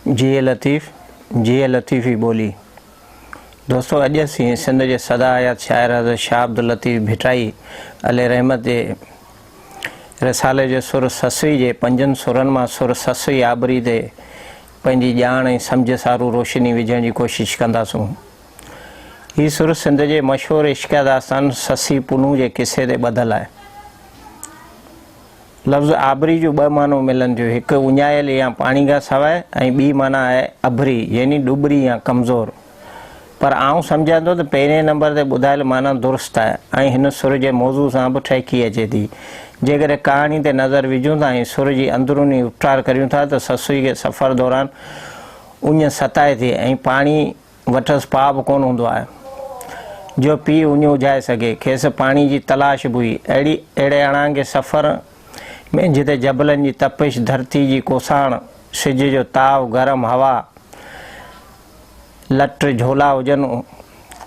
جيئي لطيف جيئي لطيفي ٻولي دوستو اڄ اسين سنڌ جي سدا حيات شاعر حضرت شاهه عبداللطيف ڀٽائي علي رحمت جي رسالي جو سر سسوي جي پنجن سرن مان سر سسوي آبري تي پنهنجي ڄاڻ ۽ سمجھ سارو روشني وجهڻ جي ڪوشش ڪنداسون هي سر سنڌ جي مشهور عشقيه داستان سسي پنهون جي قصي تي ٻڌل آهي. لفظ آبري جون ٻه معنيون ملن ٿيون، هڪ اڃايل يا پاڻي کان سواء ۽ ٻي معنيٰ آهي ابري يعني ڏٻري يا ڪمزور. پر آئون سمجهان ٿو ته پهرين نمبر تي ٻڌايل معنيٰ درست آهي ۽ هن سر جي موضوع سان به ٺهڪي اچي ٿي. جيڪڏهن ڪهاڻي تي نظر وجهون ٿا ۽ سر جي اندروني اپٽار ڪريون ٿا ته سسئي کي سفر دوران اڃ ستائي ٿي ۽ پاڻي وٽس پاء به ڪونه هوندو آهي، جو پيء اڃ اجهائي سگهي. کيس پاڻي جي تلاش به هئي. اهڙي اهڙي اڻانگي سفر ۾ جتي جبلن جي تپش، ڌرتي جي ڪوساڻ، سج جو تاء، گرم هوا، لٽ جهولا هجن،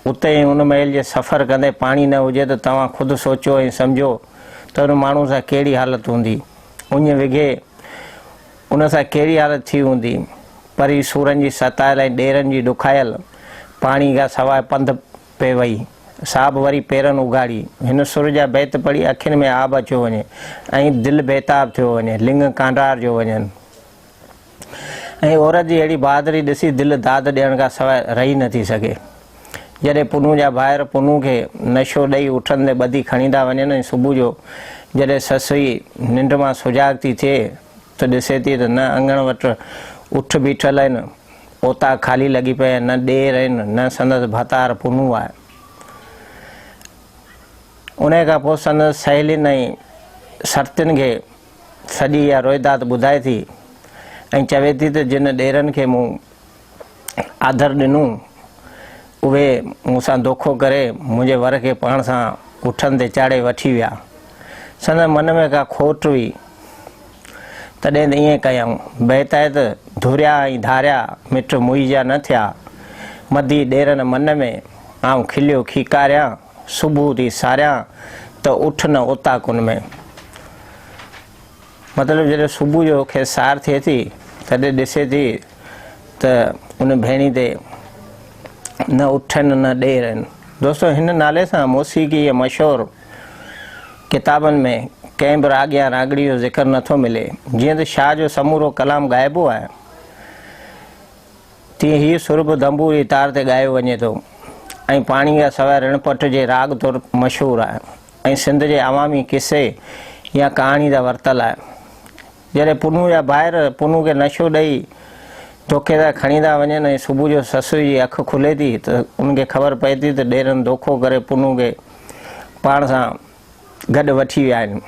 اتي ۽ ان ميل جي سفر ڪندي پاڻي نه هجي ته توهان خود سوچيو ۽ سمجهو ته ان ماڻهوء سان ڪهڙي حالت هوندي. اڃ وگهي. ان سان ڪهڙي حالت ٿي هوندي؟ پري سورن جي ستايل ۽ ڏيرن جي ڏکايل پاڻي کان سواء پنڌ پئي وئي. سا به وري پيرن اگهاڙي. هن سر جا بيت پڙهي اکين ۾ آب اچيو وڃي ۽ دل بيتاب ٿيو وڃي، لڱ ڪانڊارجيو وڃن ۽ عورت جي اهڙي بهادري ڏسي دل داد ڏيڻ کان سواء رهي نٿي سگهي. جڏهن پنهون جا ڀائر پنهون کي نشو ڏئي اٺن تي ٻڌي کڻي ٿا وڃن ۽ صبح جو جڏهن سسئي ننڊ مان سجاڳ ٿي ٿئي ته ڏسي ٿي ته نه اڱڻ وٽ اٺ بيٺل آهن، اوطاق خالي لڳي پئي آهي، نه ڏير آهن، نه سندس ڀتار پنهون آهي. انهيء کان پوء سندس سهيلين ۽ سرتين کي سڄي اها روئداد ٻڌائي ٿي ۽ چوي ٿي ته جن ڏيرن کي مون آڌر ڏنو، اهي مون سان دوکو ڪري منهنجي ور کي پاڻ سان اٺن تي چاڙهي وٺي ويا. سندن من ۾ ڪا کوٽ هئي، تڏهن ته ائين ڪيائون. بهتائت ڌريا ۽ ڌاريا مٽ موئي جا نه ٿيا. مدي ڏيرن من ۾ آئون کليو کيڪاريان، صبح ٿي ساريان ته اٺ نه اوطاقن ۾. مطلب جڏهن صبح جو کيس سار ٿئي ٿي تڏهن ڏسي ٿي ته ان ڀيڻي تي نه اٺن نه ڏير آهن. دوستو هن نالي سان موسيقي جي مشهور ڪتابن ۾ ڪنهن به راڳ يا راڳڙي جو ذڪر نه ٿو ملي. جيئن ته شاهه جو سمورو ڪلام ڳائبو آهي تيئن هي سر به دنبو جي تار تي ڳايو وڃي ٿو ۽ پاڻي کان سواء رڻ پٽ جي راڳ طور مشهور آهي. ۽ سنڌ جي عوامي قصي يا ڪهاڻي جا ورتل آهن. جڏهن پنهون جا ڀائر پنهون کي نشو ڏئي ڌوڪي سان کڻي ٿا وڃن ۽ صبح جو سسئي جي اک کلي ٿي ته ان کي خبر پئي ٿي ته ڏيرن دوکو ڪري پنهون کي پاڻ سان گڏ وٺي ويا آهن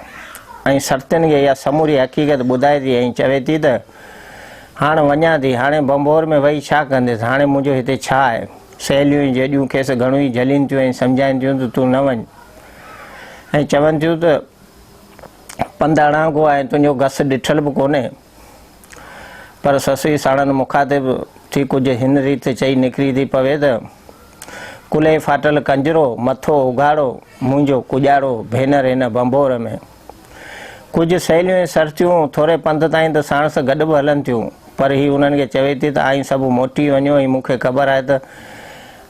۽ سرتين کي اها سموري حقيقت ٻڌائي ٿي ۽ چوي ٿي ته هاڻ وڃان ٿي، هاڻي ڀنڀور ۾ ويهي ڇا ڪنديس، هاڻي منهنجو هتي ڇا آهي؟ سهيليون ۽ جيڏيون کيس گهڻو ئي جهلين ٿيون ۽ سمجهائين ٿيون ته تون نه وڃ ۽ چون ٿيون ته پنڌ اڻانگو آهي تنهنجو گس ڏٺل به ڪونهي پر سسئي ساڻن مخاطب ٿي ڪجهه هن ريت چئي نڪري ٿي پوي ته ڪلهي ڦاٽل ڪنجرو مٿو اگهاڙو منهنجو ڪڄاڙو ڀينر هن ڀنڀور ۾ ڪجهه سهيليون ۽ سرتيون ٿوري پنڌ تائين ته ساڻس گڏ به هلن ٿيون، پر هي انهن کي چوي ٿي ته اوهين سڀ موٽي وڃو ۽ مون کي خبر آهي ته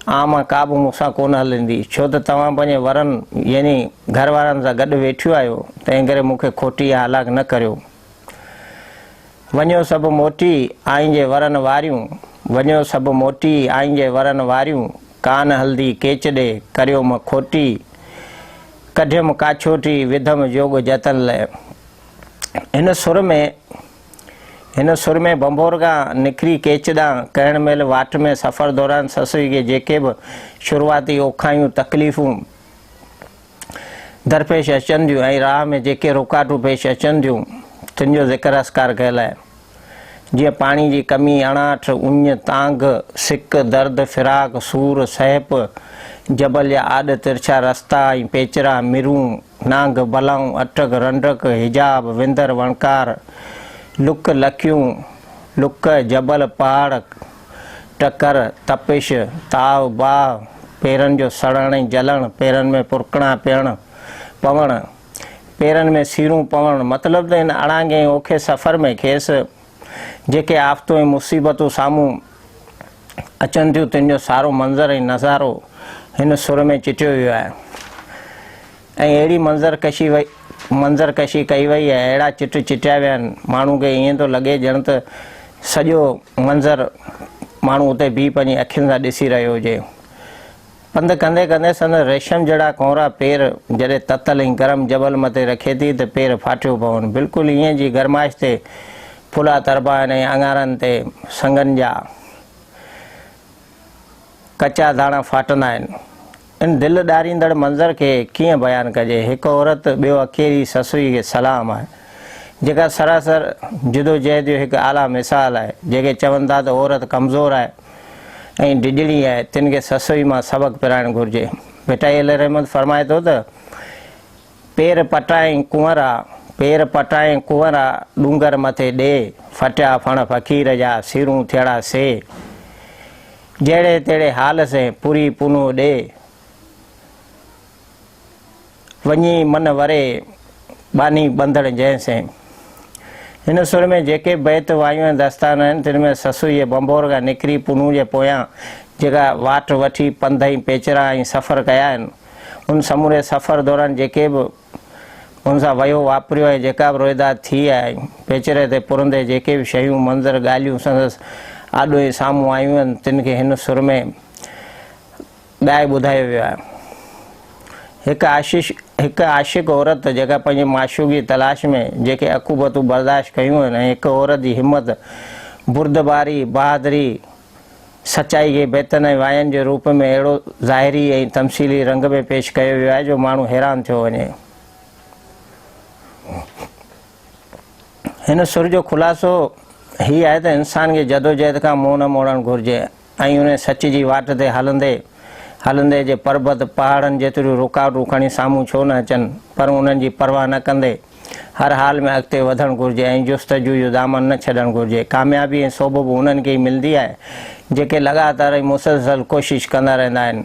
اوهان مان ڪا به مون سان ڪونه هلندي، ڇو ته توهان پنهنجي ورن يعني گهر وارن سان گڏ ويٺيون آهيو، تنهنڪري مون کي کوٽي يا هلاڪ نه ڪريو. وڃو سڀ موٽي آئين جي ورن واريون، وڃو سڀ موٽي آئين جي ورن واريون، ڪانه هلدي ڪيچ ڏي ڪريو م کوٽي، ڪڍيم ڪاڇوٽي وڌم جوڳ جتن لئه. هن سر ۾ هن سر ۾ ڀنڀور کان نڪري ڪيچ ڏانهن ڪهڻ مهل واٽ ۾ سفر دوران سسئي کي جيڪي به شروعاتي اوکايون، تڪليفون، درپيش اچن ٿيون ۽ راهه ۾ جيڪي رڪاٽون پيش اچن ٿيون تن جو ذڪر اسڪار ڪيل آهي. جيئن پاڻي جي ڪمي، اڻاٺ، اڃ، تانگهه، سڪ، درد، فراق، سور، سهپ، جبل يا آڏ، ترڇا رستا ۽ پيچرا، مرون، نانگ، بلائون، اٽڪ، رنڊڪ، حجاب، وندر، وڻڪار، لڪ، لڪيون، لڪ، جبل، پهاڙ، ٽڪر، تپش، تاو، باهه، پيرن جو سڙڻ ۽ جلڻ، پيرن ۾ پرڪڻا پيڻ، پوڻ، پيرن ۾ سيڙون پوڻ، مطلب ته هن اڙانگي ۽ اوکي سفر ۾ کيس جيڪي آفتون ۽ مصيبتون سامهون اچن ٿيون تن جو سارو منظر ۽ نظارو هن سر ۾ چٽيو ويو آهي. ۽ اهڙي منظر ڪشي وئي منظر ڪشي ڪئي وئي ۽ اهڙا چٽ چٽيا ويا آهن ماڻهو کي ائين ٿو لڳي ڄڻ ته سڄو منظر ماڻهو اتي بيهي پنهنجي اکين سان ڏسي رهيو هجي پنڌ ڪندي ڪندي سندن ريشم جهڙا ڪونرا پير جڏهن تتل ۽ گرم جبل مٿي رکي ٿي ته پير ڦاٽيو پون بلڪل ائين جي گرمائش تي ڦلا تربا آهن ۽ اڱارن تي سنگن جا ڪچا داڻا ڦاٽندا آهن ان دل ڏاريندڙ منظر کي ڪيئن بيان ڪجي، هڪ عورت ٻيو اڪيلي سسئي کي سلام آهي، جيڪا سراسر جدوجهد جو هڪ اعليٰ مثال آهي، جيڪي چون ٿا ته عورت ڪمزور آهي ۽ ڊڄڻي آهي، تن کي سسئي مان سبق پرائڻ گهرجي. ڀٽائي عليه الرحمة فرمائي ٿو ته، پير پٽائين ڪنورا، پير پٽائين ڪنورا، ڏونگر مٿي ڏي، ڦٽيا ڦڻ فقير جا، سيرون ٿيڙا سي. جهڙي تهڙي حال سين پوري پونو ڏي، وڃي من وري ٻانهي ٻنڌڻ جنهن سين. هن سر ۾ جيڪي بيت وايون ۽ داستان آهن، تن ۾ سسئي جي ڀنڀور کان نڪري پونو جي پويان جيڪا واٽ وٺي پنڌ ۽ پيچرا ۽ سفر ڪيا آهن، ان سموري سفر دوران جيڪي به ان سان ويو واپريو ۽ جيڪا به روئداد ٿي آهي ۽ پيچري تي پرندي جيڪي به شيون، منظر، ڳالهيون سندس آڏو ۽ سامهون آيون آهن تن کي هن سر ۾ ڳائي ٻڌايو ويو آهي. هڪ عاشش هڪ عاشق عورت جيڪا پنهنجي معشوق جي تلاش ۾ جيڪي عقوبتون برداشت ڪيون آهن ۽ هڪ عورت جي همت، بردباري، بهادري، سچائي کي بيتن ۽ واين جي روپ ۾ اهڙو ظاهري ۽ تمثيلي رنگ ۾ پيش ڪيو ويو آهي جو ماڻهو حيران ٿيو وڃي. هن سر جو خلاصو هي آهي ته انسان کي جدوجهد کان منهن نه موڙڻ گهرجي ۽ انهي سچ جي واٽ تي هلندي هلندي جي پربت پهاڙن جيتريون رڪاوٽون کڻي سامهون ڇو نه اچن پر انهن جي پرواهه نه ڪندي هر حال ۾ اڳتي وڌڻ گهرجي ۽ جستجو جو دامن نه ڇڏڻ گهرجي. ڪاميابي ۽ سوڀ به انهن کي ئي ملندي آهي، جيڪي لڳاتار ۽ مسلسل ڪوشش ڪندا رهندا آهن.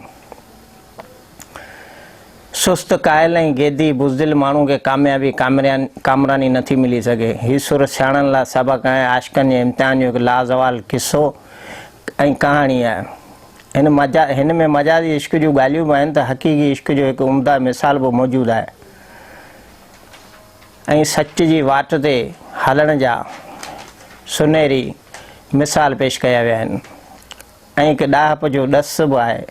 سست، ڪاهل ۽ گيدي، بزدل ماڻهو کي ڪاميابي، ڪامراني نه ٿي ملي سگهي. هي سر سياڻن لاء سبق ۽ عاشقن جي امتحان جو هڪ لازوال قصو ۽ ڪهاڻي آهي. هن ۾ مجازي عشق جون ڳالهيون به آهن ته حقيقي عشق جو هڪ عمده مثال به موجود آهي. ۽ سچ جي واٽ تي هلڻ جا سنهري مثال پيش ڪيا ويا آهن ۽ هڪ ڏاهپ جو ڏس به آهي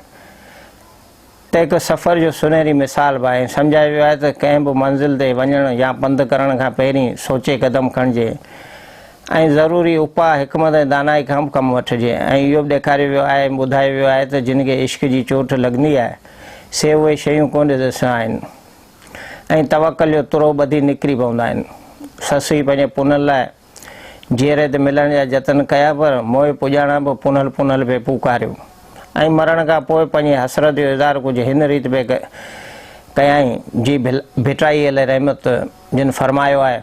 ته هڪ سفر جو سنهري مثال به آهي سمجهايو ويو آهي ته ڪنهن به منزل تي وڃڻ يا پنڌ ڪرڻ کان پهرين سوچي قدم کڻجي ۽ ضروري اپاء حڪمت ۽ دانائي کان به ڪم وٺجي ۽ اهو به ڏيکاريو ويو آهي ۽ ٻڌايو ويو آهي ته جن کي عشق جي چوٽ لڳندي آهي سي اهي شيون ڪونه ڏسندا آهن ۽ توڪل جو ترو ٻڌي نڪري پوندا آهن. سسئي پنهنجي پونل لاء جيئري تي ملڻ جا جتن ڪيا پر موئي پڄاڻان به پونل پونل پئي پوڪاريو ۽ مرڻ کان پوء پنهنجي حسرت جو اظهار ڪجهه هن ريت پئي ڪيائين جي ڀٽائي عليه رحمت جن فرمايو آهي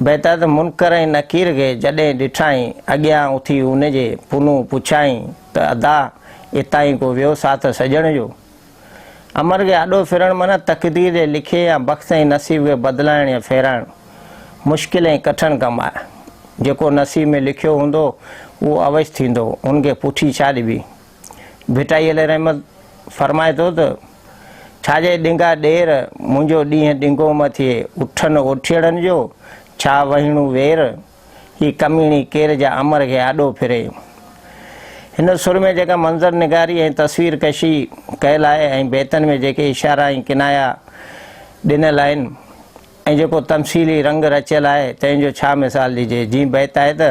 بيتحد منڪر ۽ نڪير کي جڏهن ڏٺائين اڳيان اٿي ان جي پنهون پڇيائين ته ادا اتاهين ڪو ويو ساٿ سڄڻ جو؟ امر کي آڏو ڦرڻ معنيٰ تقدير جي لکيي يا بخت ۽ نصيب کي بدلائڻ يا ڦيرائڻ مشڪل ۽ ڪٺڻ ڪم آهي. جيڪو نصيب ۾ لکيو هوندو، اهو اوئس ٿيندو، هن کي پٺي ڇا ڏبي؟ ڀٽائي عليه رحمت فرمائي ٿو ته، ڇا جي ڏنگا ڏير، منهنجو ڏينهن ڏنگو م ٿئي، اٺن اوٺيئڙن جو، ڇا وهيڻو وير؟ هي ڪميڻي ڪير جا امر کي آڏو ڦري. هن سر ۾ جيڪا منظر نگاري ۽ تصوير ڪشي ڪيل آهي ۽ بيتن ۾ جيڪي اشارا ۽ ڪنايا ڏنل آهن ۽ جيڪو تمثيلي رنگ رچيل آهي تنهن جو ڇا مثال ڏجي. جيئن بيت آهي ته.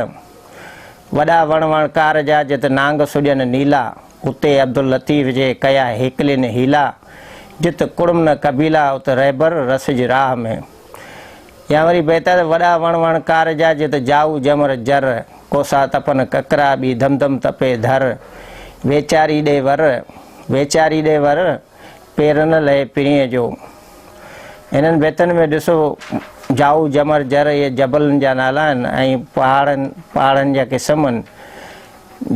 وڏا وڻ وڻ ڪار جا جت نانگ سڏين نيلا اتي عبداللطيف جي ڪيا هيڪلين حيلا جت ڪڙم نه قبيلا ات رهبر رسج راهه ۾. يا وري بهتر ته وڏا وڻ وڻ ڪار جا جيئن ته جائو جمر جر، ڪوسا تپن ڪڪرا ٻي ڌم ڌم تپي ڌر، ويچاري ڏي ور، ويچاري ڏي ور، پير نه لهي پرينء جو. هنن بيتن ۾ ڏسو جائو جمر جر اهي جبلن جا نالا آهن ۽ پهاڙن پهاڙن جا قسم آهن.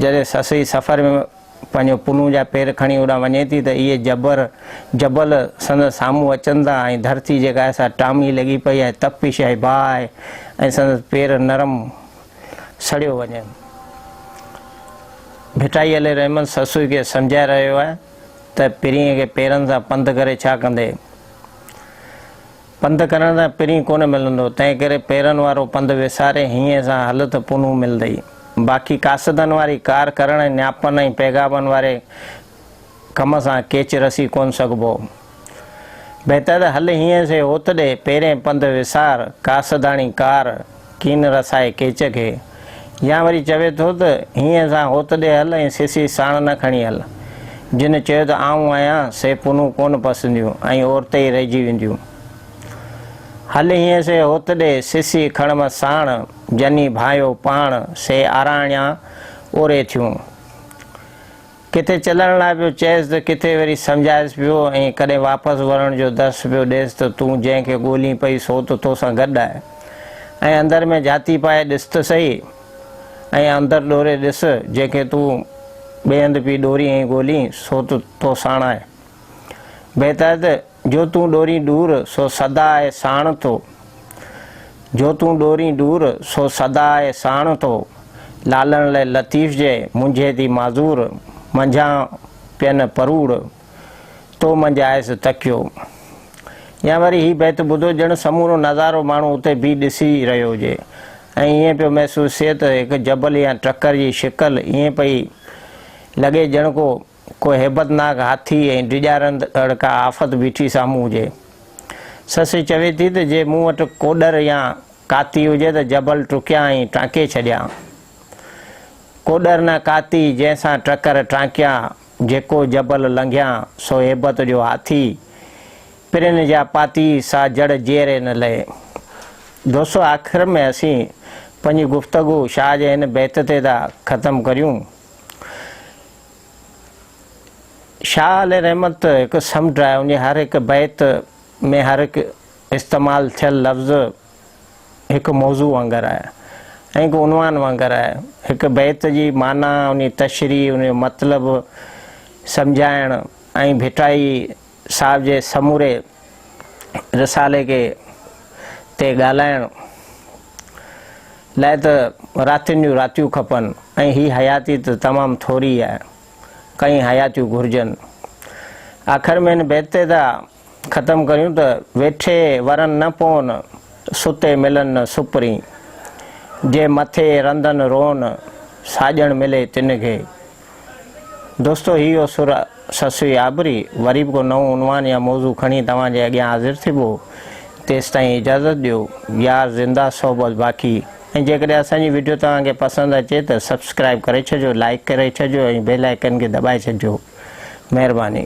جڏهن سسئي سفر ۾ پنهنجو پنهون جا پير کڻي هوڏانهن وڃي ٿي ته اهي جبر، جبل، سندس سامهون اچن ٿا ۽ ڌرتي جيڪا آهي سا ٽامي لڳي پئي آهي، تپش آهي، باهه آهي ۽ سندس پير نرم سڙيو وڃن. ڀٽائي علي رحمن سسوئي کي سمجهائي رهيو آهي ته پرينء کي پيرن سان پنڌ ڪري ڇا ڪندي؟ پنڌ ڪرڻ تان پرين ڪونه ملندو، تنهنڪري پيرن وارو پنڌ وساري هينئين سان هل ته پنهون ملندئي. باقي قاصدن واري ڪار ڪرڻ ۽ نياپن ۽ پيغامن واري ڪم سان ڪيچ رسي ڪونه سگهبو. بهتر ته هل هينئين سي هوت ڏي، پيرين پنڌ وسار، قاصداڻي ڪار، ڪين رسائي ڪيچ کي. يا وري چوي ٿو ته، هينئن سان هوت ڏي هل ۽ سسي ساڻ نه کڻي هل. جن چيو ته آئون آهيان، سي پنون ڪونه پسنديون ۽ عورتي ئي رهجي وينديون. هل هينئن سي هوت ڏي، سسي کڻ م ساڻ، جني ڀانئيو پاڻ، سي آراڻيان اوري ٿيون. ڪٿي چلڻ لاء پيو چئيس ته ڪٿي وري سمجهائيس پيو ۽ ڪڏهن واپس ورڻ جو درس پيو ڏيس ته تون جنهن کي ڳولين پئي سو ته تو سان گڏ آهي ۽ اندر ۾ جهاتي پائي ڏس ته سهي ۽ اندر ڏوري ڏس جنهن کي تون ٻئي هنڌ پئي ڏورين ۽ ڳولين سو ته تو ساڻ آهي بهتر ته جو تون ڏورين ڏور سو سدا آء ساڻ ٿو جو تون ڏورين ڏور سو سدا آء ساڻ ٿو لالڻ لئه لطيف جئه منجهي ٿي معذور منجهان پين پروڙ تو منجهه آيس تڪيو يا وري هي بيت ٻڌو ڄڻ سمورو نظارو ماڻهو اتي بيهي ڏسي رهيو هجي ۽ ائين پيو محسوس ٿئي ته هڪ جبل يا ٽڪر جي شڪل ائين پئي لڳي ڄڻ ڪو ڪو هيبتناڪ هاٿي ۽ ڊيڄارندڙ ڪا آفت بيٺي سامهون هجي. سسئي چوي ٿي ته جي مون وٽ ڪوڏر يا ڪاتي هجي ته جبل ٽرڪيان ۽ ٽانڪي ڇڏيان. ڪوڏر نه ڪاتي جنهن سان ٽڪر ٽانڪيان، جيڪو جبل لنگهيان سو هيبت جو هاٿي، پرين جا پاتي سا جڙ جيئري نه لهي. دوستو آخر ۾ اسين پنهنجي گفتگو شاهه جي هن بيت تي ٿا ختم ڪريون. شاهه علي رحمت هڪ سمنڊ آهي، ان جي هر هڪ بيت ۾ هر هڪ استعمال ٿيل لفظ هڪ موضوع وانگر آهي ۽ هڪ عنوان وانگر آهي. هڪ بيت جي معنيٰ، ان جي تشريح، ان جو مطلب سمجهائڻ ۽ ڀٽائي صاحب جي سموري رسالي کي تي ڳالهائڻ لاء ته راتين جون راتيون کپن ۽ هي حياتي ته تمام ٿوري آهي. ڪئين حياتيون گهرجن. آخر ۾ هن بيت تي ٿا ختم ڪريون ته ويٺي ورن نه پون، ستي ملن نه سپرين. جي مٿي رندن رون، ساڄڻ ملي تن کي. دوستو هي هو سر سسوي آبري وري به ڪو نئون عنوان يا موضوع کڻي توهان جي اڳيان حاضر ٿبو تيستائين اجازت ڏيو يار زنده صحبت باقي ۽ جيڪڏهن اسان جي وڊيو توهان کي پسند اچي ته سبسڪرائب ڪري ڇڏجو لائيڪ ڪري ڇڏجو ۽ بيل آئيڪن کي دٻائي ڇڏجو مهرباني.